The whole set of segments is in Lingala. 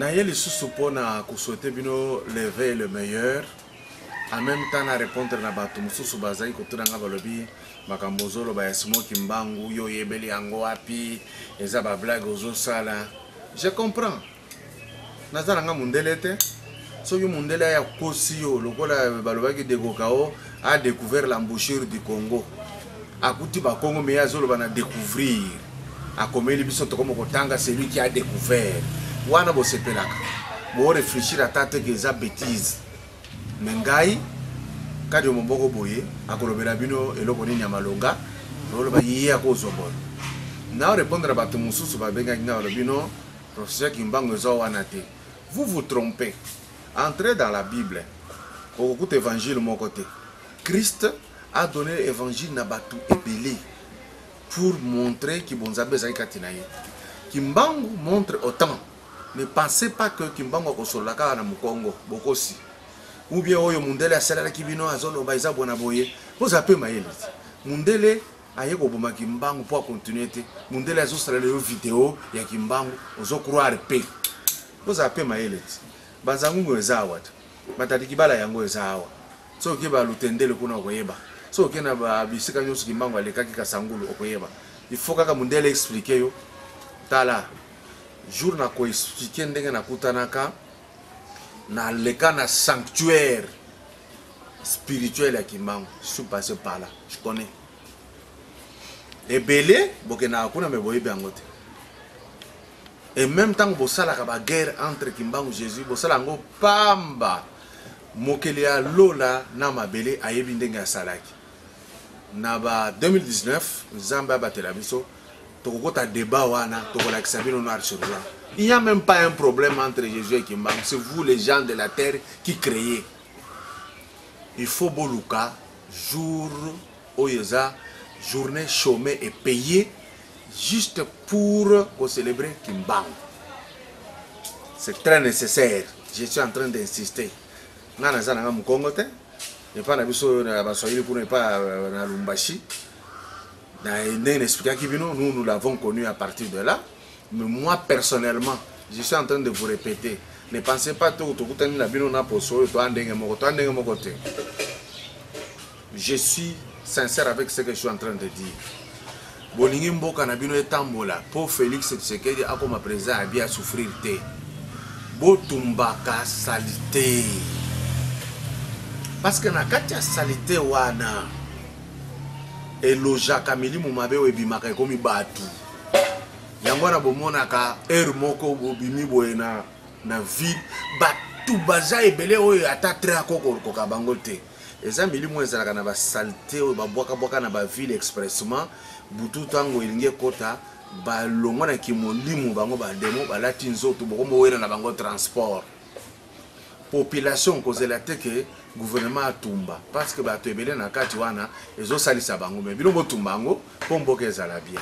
naye lisusu mpona koswete bino leve le meilleur en même temps na répondre na bato mosusu bazali kotuna ngai balobi makambo ozoloba ya simo kimbangu yo oyebeli yango wapi eza bablague ozosala je comprends naza na nga mundele te soki mundele aya kosi yo lokola balobaki dekokao a découvert l'embouchure du congo akuti bakongo meye azoloba na découvrir akomeli biso tokomi kotanga celui qui a découvert wana bosepelaka borefléchir ata te ke eza bétise me ngai kadi yo moboko boye akolobela bino eloko nini ya malonga oloba ye akozwa boye nao répondre bato mosusu babengaki ngai balobi no Professeur Kimbangu eza wana te. Vous vous trompez. Entrez dans la Bible. Okokuta évangile moko te. Christ a donné évangile na batu ebele pour montrer que bonzambe ezali kati na ye. Kimbangu montre autant. Ne pensez pas que Kimbangu akosolola kaka na Mukongo, bokosi. Ou bien oyo mundele asalalaki bino azoloba eza bona boye. Boza pe mayele. Mundele aye koboma kimbangu po a continue te mundele azo salela yo video ya kimbangu ozo croire pe bozala pe mayele ti banzangungu eza awa te batatikibala yango eza awa soki oke balutendele kuna okoyeba soki oke na bisika nyonso kimbangu alekaki kasangulu okoyeba ifo kaka mundele explike yo tala jour na koexplike ndenge nakutanaka naleka na sanctuaire spirituel ya kimbangu su passe par là je connais ebele bokendaka kuna me boyebi yango te et même ntango bosalaka baguerre entre kimbangu jésus bosala yango pamba mokeli ya lola na mabele ayebi ndenge asalaki na ba 2019 nzambe abatela biso tokokota débat wana tokolakisa bino noir sur blanc il n'y a même pas un problème entre jésus et kimbangu c'est vous les gens de la terre qui créez il faut boluka jour oyo eza journée chômée et payée juste pour célébrer kimbangu c'est très nécessaire je suis en train d'insister nga naza nanga mukongo te epa na biso na baswahili kuna epa euh, na lumbashi ndenge na expliquaki bino nous nous l'avons connu à partir de là mais moi personnellement je suis en train de vous répéter ne pensez pas to tokutani na bino na poso oyo toa ndenge moko toa ndenge moko te Je suis sincère avec ce que je suis en train de dire. Bolingi mboka na bino etambola po Felix Tshisekedi akoma président ya bien souffrir te. Botumbaka salite. Parce que na kati ya salite wana elojaka milimu mabe oyo ebimaka ekomi bato yango wana bomonaka heure moko bobimi boye na, na ville bato baza ebele oyo ata tre akokokoka bango te eza milimu oyo ezalaka na basalite oyo babwakabwaka na baville expressement butu ntango elingi ekota balongwa na kimolimu bango bademo balati nzoto bokomowela na bango transport population kozela te ke gouvernement atumba parce que bato ebele na kati wana ezosalisa bango me bino botumba yango mpo mboka ezala bien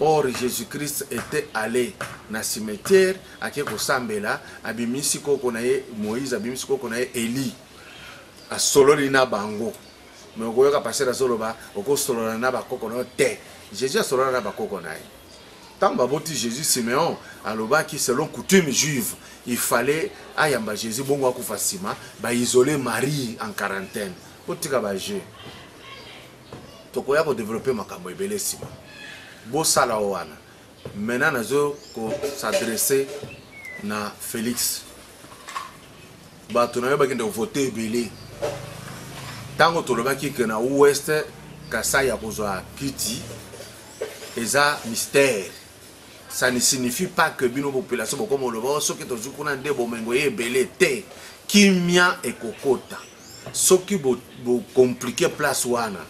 Or Jesus Christ etait alle na cimetière ake kosambela, abimisi koko na ye Moïse, abimisi koko na ye Elie, asololi na bango. Mais okoyoka pasteur azoloba okosolola na bakoko na yo te. Jesus asolola na bakoko na ye. Ntango baboti Jesus, Simeon alobaki selon coutume juive, il fallait ayamba Jesus bongo akufa nsima, ba isoler Marie en quarantaine. Botika ba jeux. tokoya ko developper makambo ebele nsima bosala o wana maintenant nazo ko s'adresser na Felix bato na yo bakende kovote ebele ntango tolobaki ke na ouest kasai ya kozwa kiti eza mystère ça ne signifie pas que bino population bokoma oloba oh, soki tozwi kuna nde bomengo ye ebele te kimia ekokota Soki bo, bo compliquer place wana,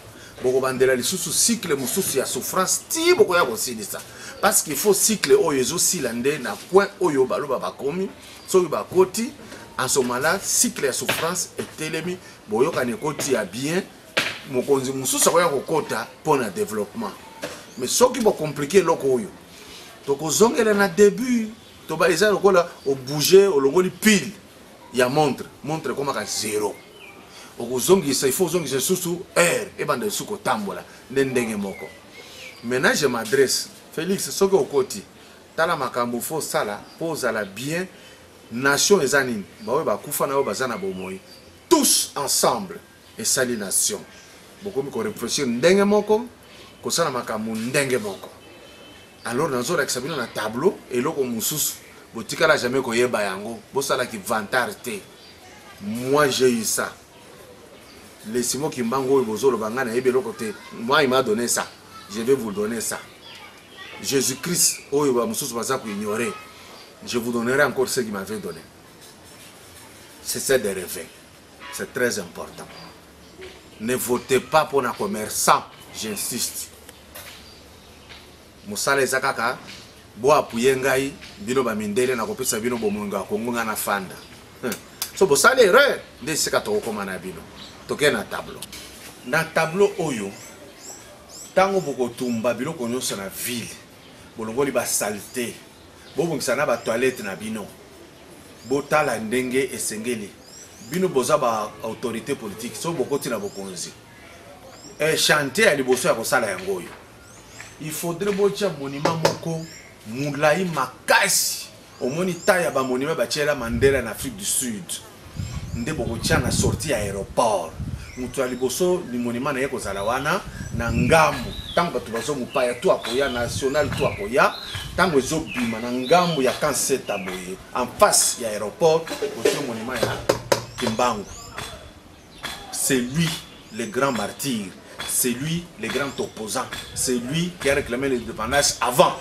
bokobandela lisusu cycle mosusu ya souffrance ti bokoya kosilisa parce qu'il faut cycle oyo ezosila nde na coin oyo baloba bakomi soki bakoti en ce moment là cycle ya souffrance etelemi boyokani ekoti ya bien mokonzi mosusu akoya kokota mpo na développement mais soki bocomplike eloko oyo tokozongela na début toba eza lokola obouge olongoli pile ya montre montre ekomaka zero okozongisa il faut ozongisa lisusu heure ebanda lisusu kotambola nde ndenge moko maintenant je m'adresse félix soki okoti tala makambo fo osala mpo ozala bien nation eza nini baoyo bakufa na oyo baza na bomoi tous ensemble esali nation bokomi ko reflechir ndenge moko kosala makambo ndenge moko alors nazolakisa bino na tableau eloko mosusu botikala jamais koyeba yango bosala kivantare te moi j'ai eu ça lesimo kimbangu oyo bozoloba ngai nayebi eloko te moi il m'a donné ça je vais vous donner ça jésus christ oyo bamosusu baza koignore je vous donnerai encore ce qui m'avait donné c'est ça de rêver C'est très important. Ne votez pas pour un commerçant, j'insiste. Moussala Ezakaka, bo appuyer ngai, bino ba mindele na kopesa bino bomongo ya Kongo nga na fanda. So bosala erreur, nde sika tokokoma na bino. Toke na tableau. Na tableau oyo, tango bokotumba biloko nyonso na ville, bolongoli ba salite, bobongisa na ba toilette na bino. Botala ndenge esengeli bino boza ba autorite politique soki bokoti na bokonzi e, chantier ya liboso ya kosala yango oyo il faudrait botya monima moko molai makasi omoni ta ya bamonima batyela mandela na afrique du sud nde bokotya na sortie ya aéroport Moto ya liboso limonema na ye kozala wana na ngambo, ntango bato bazo mopaya to akoya national to akoya, ntango ezobima na ngambo ya kanseta boye en face ya aéroport otie monema ya kimbangu c'est lui le grand martyr c'est lui le grand opposant c'est lui qui a réclamé l'indépendance avant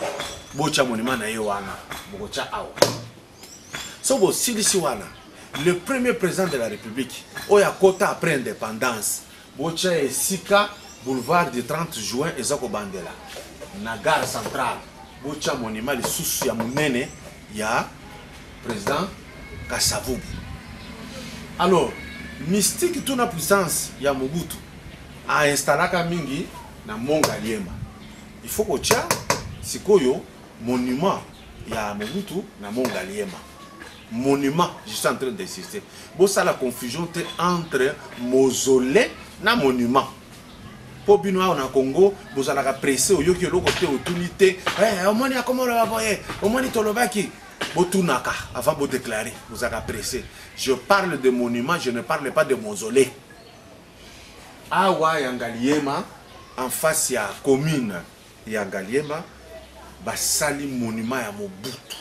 botya monema na ye wana bokotya awa soki bosilisi wana le premier président de la république oyo akota après indépendance botya esika boulevard du 30 juin eza kobandela na gare centrale botya monima lisusu ya monene ya président kasavubu alors mystique tuna puissance ya mobutu ainstallaka mingi na mont ngaliema il faut kotya sikoyo monument ya Mobutu na Mont Ngaliema monument je suis en train d'insister bosala confusion te entre mausolée na monument mpo bino awa na congo bozalaka presse oyoki eloko te otuni te eh, omoni akoma oloba boye omoni tolobaki botunaka avant bodeklare bozalaka presse je parle de monument je ne parle pas de mausolée awa ya ngaliema en face ya commune ya ngaliema basali monument ya mobutu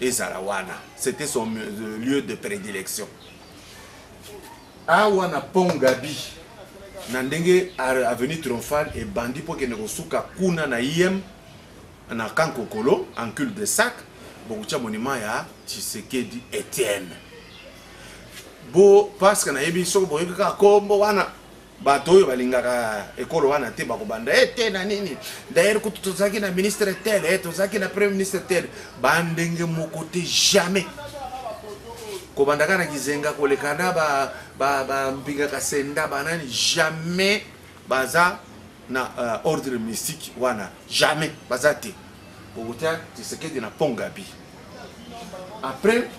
ezala wana c'était son euh, lieu de prédilection awa na pont gabi na ndenge avenue triomphale ebandi mpo kende kosuka kuna na im na kankokolo en cul de sac bokotya monima ya tshisekedi etienne bo parceke nayebi soki boyebi kaka kombo wana bato oyo balingaka ekolo wana te bakobanda e te na nini dayere kutu tozalaki na ministre tel e tozalaki na premier ministre tel bandenge moko te jamais kobandaka na kizenga koleka na bambinga ba, ba kasenda banani jamais baza na uh, ordre mystique wana jamais baza te bokotia tisekedi na pont gabi après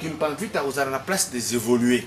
kimpanvita akozala na place des évoluer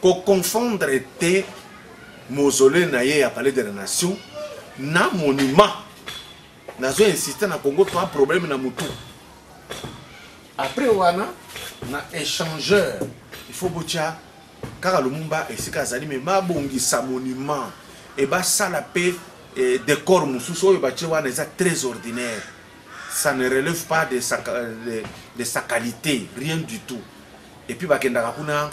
ko confondre te mausolée na ye ya palais de la nation na monument nazo insiste na congo toa problème na motu après wana na échangeur il faut botya kaka lumumba esika azali me babongisa monument e basala mpe eh, décor mosusu oyo batye wana eza très ordinaire ça ne relève pas de sa, de, de sa qualité rien du tout et puis bakendaka kuna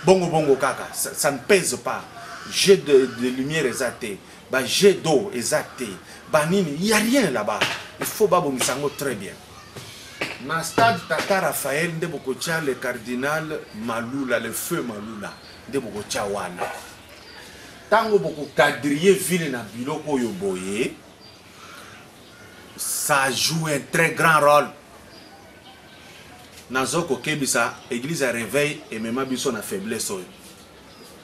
bongo bongo kaka ça, ça ne pèse pas jeu de, de lumière eza te ba jeu d'eau eza te banini il y a rien là-bas il faut babongisa yango très bien na stade tata raphaël nde bokotya le cardinal malula le feu malula nde bokotya wana ntango bokokadrie ville na biloko oyo boye ça joue un très grand rôle nazo kokebisa eglise ya reveil emema biso na faiblesse oyo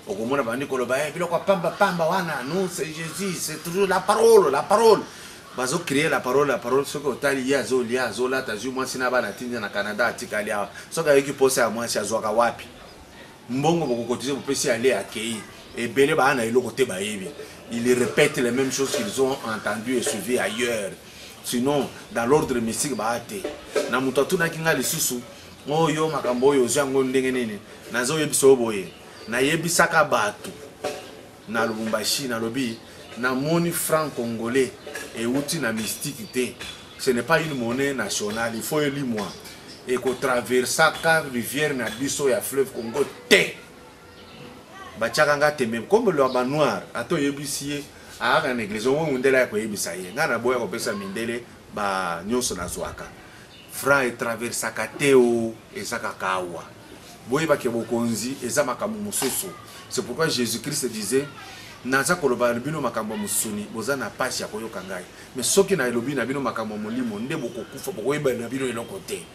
okomona bandi koloba hey, eh, biloko pamba pamba wana non c'est jésus c'est toujours la parole la parole bazo créer la parole la parole soki otali ye azolia azolata azwi mwasi na bana atinda na canada atikali awa soki ayoki mposa ya mwasi azwaka wapi mbongo bokokotize bopesi ale akei ebele baa na eloko te bayebi ils répètent les mêmes choses qu'ils ont entendu et suivi ailleurs sinon dans l'ordre mystique baa te na moto atunaki ngai lisusu oyo oh, makambo oyo ozwi yango ndenge nini nazoyebisa yo boye nayebisaka bato na lubumbashi nalobi namoni franc congolais euti na mystique te ce n'est pas une monnaie nationale il faut elimwa ekotraversaka rivière na biso ya fleuve congo te batiaka nga tembe comme lwa ba noir ata oyebisi ye ayaka na eglise omoi mundele aya koyebisa ye ngai naboya kopesa mindele ba nyonso nazwaka franc etraversaka te o eza kaka awa boyeba ke bokonzi eza makambo mosusu c'est pourquoi jésus christ disait naza koloba na bino makambo ya mosuni boza na mpasi ya koyoka ngai mais soki nalobi na bino makambo ya molimo nde bokokufa bokoyeba na bino eloko te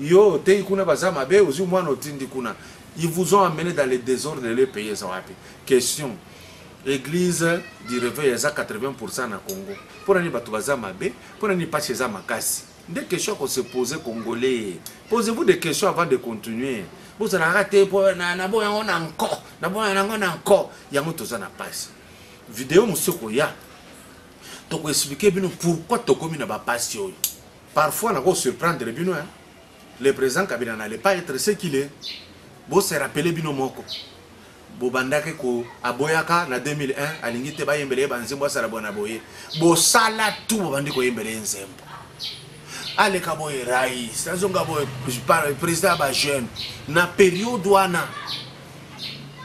Yo oteyi kuna baza mabe ozui mwana otindi kuna ils vous ont amener dans le desordre lelo epaye eza wapi question eglise du reveil eza 80% na Congo pona ni batu baza mabe pona ni pasi eza makasi nde question ko se poser congolais posez vous des questions avant de continuer bozalaka te po na na boya ngo na nko na boya na ngo na nko yango toza na pasi video mosusu koya toko expliquer bino pourquoi tokomi na ba pasi oyo Parfois nako surprendre bino hein. Le president Kabila n'allait pas être ce qu'il est. Bo se rappeler bino moko. Bobandaki ko aboyaka na 2001 alingi te bayembela ye banzembo asala bwana boye. Bosala tu bobandi koyembela ye nzembo. aleka boye rais azonga boye président ya bajeune na periode wana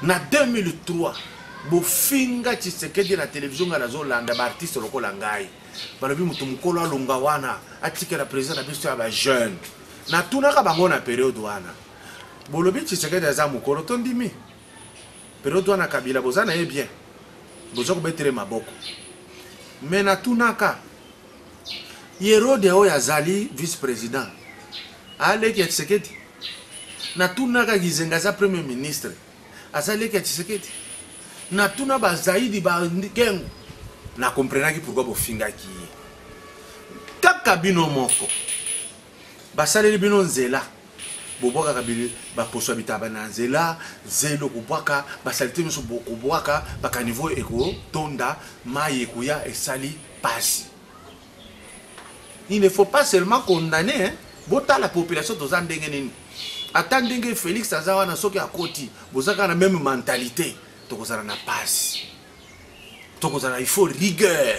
na 2003 bofinga tshisekedi na televizio ngai nazolanda baartiste lokola ngai balobi moto mokolo alonga wana atikela président na biso ya ba jeune natunaka bango na periode wana bolobi tshisekedi aza mokolo tondimi periode wana kabila boza na ye bien boza kobetele maboko me natunaka yerode oyo azali vice président aleki ya tshisekedi natunaka gizenga aza premier ministre aza leki ya tshisekedi natuna bazaidi bakengo na comprenaki pourkui bofingaki ye kaka bino moko basaleli bino nzela bobwakaka baposo ya bitaba na nzela zelo kobwaka basalite nyonso bokobwaka bakanivo ekotonda mai ekoya esali pasi il ne faut pas seulement condamner hein? botala population toza ndenge nini ata ndenge félix aza wana soki akoti boza kaka na meme mentalité tokozala na pasi tokozala il faut rigueur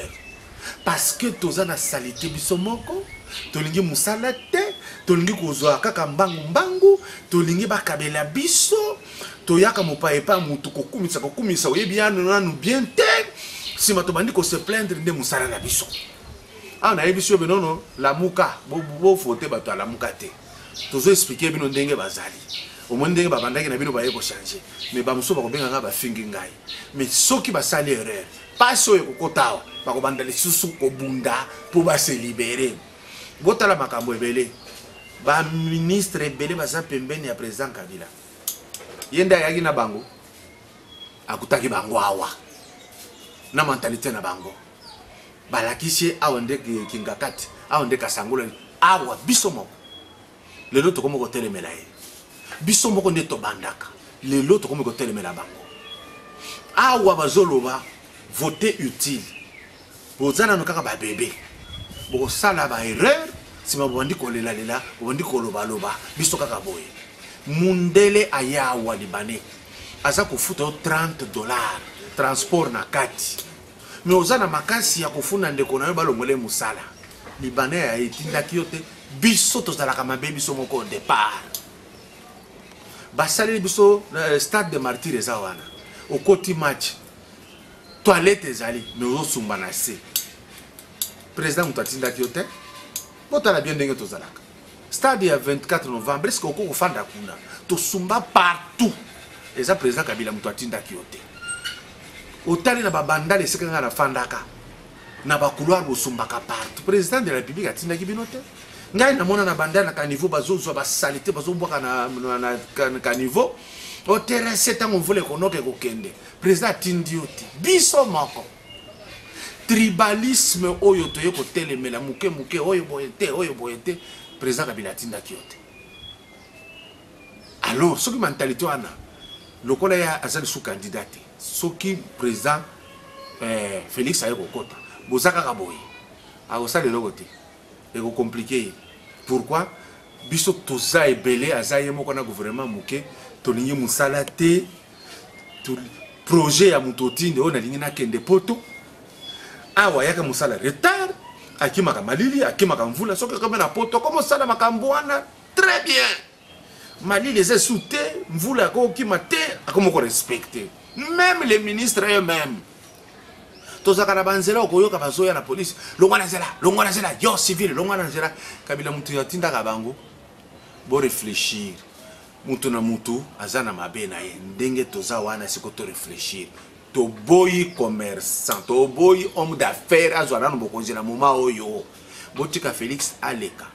parce que toza na salite biso moko tolingi mosala te tolingi kozwa kaka mbangu mbangu tolingi bakabela biso toyaka mopaye epai motu kokumisa kokumisa oyebi yano nanu bien te nsima tobandi kose plaindre nde mosala na biso awa nayebisi yo binono lamuka bofote bato ya lamuka te tozo explike bino ndenge bazali omoni ndenge babandaki na bino baye kochange me bamosusu bakobengaka bafingi ngai me soki basali erreur mpasi oyo ekokota awa bakobanda lisusu kobunda mpo baselibere botala makambo ebele baministre ebele baza pembeni ya président kabila ye nde ayaki na bango akutaki bango awa na mentalite na bango balakisi ye awa nde kingakati awa nde kasangolani awa biso moko lelo tokomi kotelemela ye biso moko nde tobandaka lelo tokomi kotelemela bango awa bazoloba vote utile boza nano kaka babebe bokosala baerreur nsima bobandi kolelalela bobandi kolobaloba biso kaka boye mundele aya awa libane aza kofuta yo 30 dollar transport na kati mais oza na makasi ya kofunda ndeko na yo balongola ye mosala libana ya etindaki yo te biso tozalaka mabe biso moko au départ basaleli biso euh, stade de martyr eza wana okoti match toilette ezali mais ozosumba na se président moto atindaki yo te botala bien ndenge tozalaka stade ya 24 novembre eske okoki kofanda kuna tosumba partout eza président kabila moto atindaki yo te otali na babandale esika ngai nafandaka na bacouloir bosumbaka partout président de la république atindaki bino te ngai namona na bandale na caniveau bazozwa basalite bazobwaka na, na, na, na caniveau oterese ntango mvula ekonoka ekokende président atindi yo te biso moko tribalisme oyo toye kotelemela moke moke oyo boye te oyo boye te président kabila atindaki yo te alors soki mentalite wana lokola ye aza lisusu candidat te soki président eh, félix aye kokota boza kaka boye akosala eloko te ekokomplike ye pourquoi biso toza ebele aza ye moko na gouvernement moke tolingi mosala te projet ya moto otinde oyo nalingi nakende poto awa ayaka mosala retard akimaka malili akimaka mvula soki okomi na poto okomi osala makambo wana très bien malili eza esu te mvula akokima te akomi korespecte même les ministres eux même tozalaka na banzela okoyoka bazoya na polise longwa na nzela longwa na nzela yo civile longwa na nzela kabila moto atindaka bango boreflechir Mutu na mutu aza na mabe na ye ndenge toza wana siko to reflechir toboyi commerçant toboyi homme d'affaires azwa nanu bokonzi na moment oyo botika Felix aleka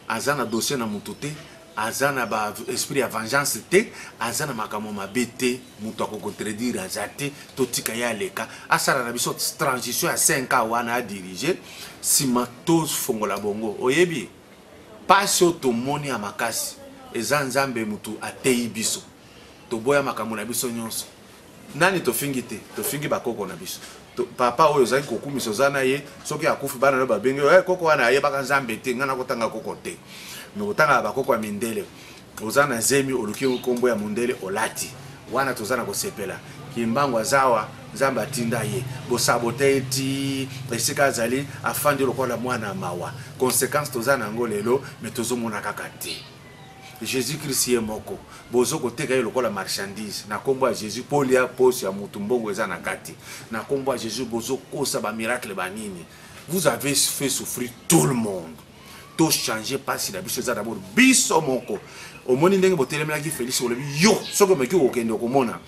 aza na dossier na mutu te aza na ba esprit ya vengeance te aza na makambo mabe te moto akokontredire aza te totika ye aleka asala na biso transition ya 5 ans wana adirige nsima tofongola bongo oyebi Pasi oyo tomoni ya makasi eza nzambe mutu ateyi biso toboya makambo na biso nionso nani tofingi te tofingi ba koko na biso papa oyo ozali kokumisa oza na ye soki akufi bana nayo babengi yo eh koko wana ayebaka nzambe te nga nakotanga koko te me kotangaka ba koko ya mindele Oza na zemi oluki ngo kombo ya mundele olati wana toza na kosepela kimbangu azawa nzambe atinda ye bosabote ye ti esika azali afandi lokola mwana mawa consequence toza na yango lelo me tozomona kaka te jesus christ ye moko bozo koteka ye lokola marchandise na kombo ya jesus polia poso ya mutu mbongo eza na kati na kombo ya jesus bozokosa bamiracle banini vous avez fait souffrir tout le monde to changer pasi na biso eza d'abord biso moko omoni ndenge botelemelaki Felix olobi yo soki omeki kokende okomona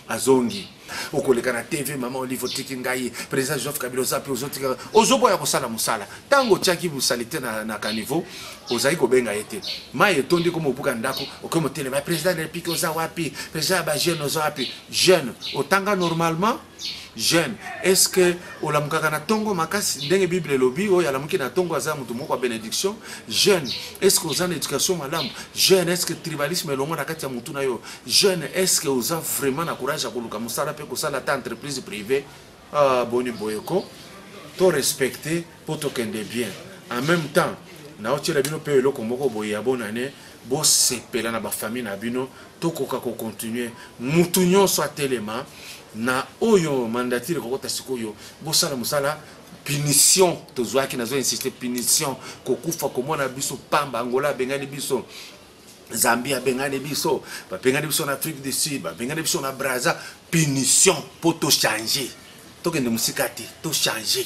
azongi okoleka na tv mama olive otiki ngai président joseph kabila oza mpe ozotika ozoboya kosala mosala ntango otyaki bosalite na, na caniveau ozali kobenga ye te mai etondi koma obuka ndako okomi otelema président de république oza wapi président ya bajeune oza wapi jeune otanga normalement jeune est ce que olamukaka na tongo makasi ndenge bible elobi oyo alamuki na tongo aza moto moko ya benediction jeune est ce que oza na éducation malamu jeune est ce que tribalisme elongo na kati ya motu na yo jeune est ce que oza vraiment na courage ya koluka mosala mpe kosala ata entreprise privée ah, boni boyeko to respecte po tokende bien en meme temps naotiela bino pe eloko moko boye ya bonne annee bosepela na bafamille na bino tokoka kocontinue mutu nyonso atelema na oyo mandatire kokota sikoyo bosala mosala punition tozwaki nazo insiste punition kokufa komona biso pamba angola abengani biso zambie abengani biso babengani biso na afrique du sud babengani biso na braza punition mpo tochange tokende mosika te tochange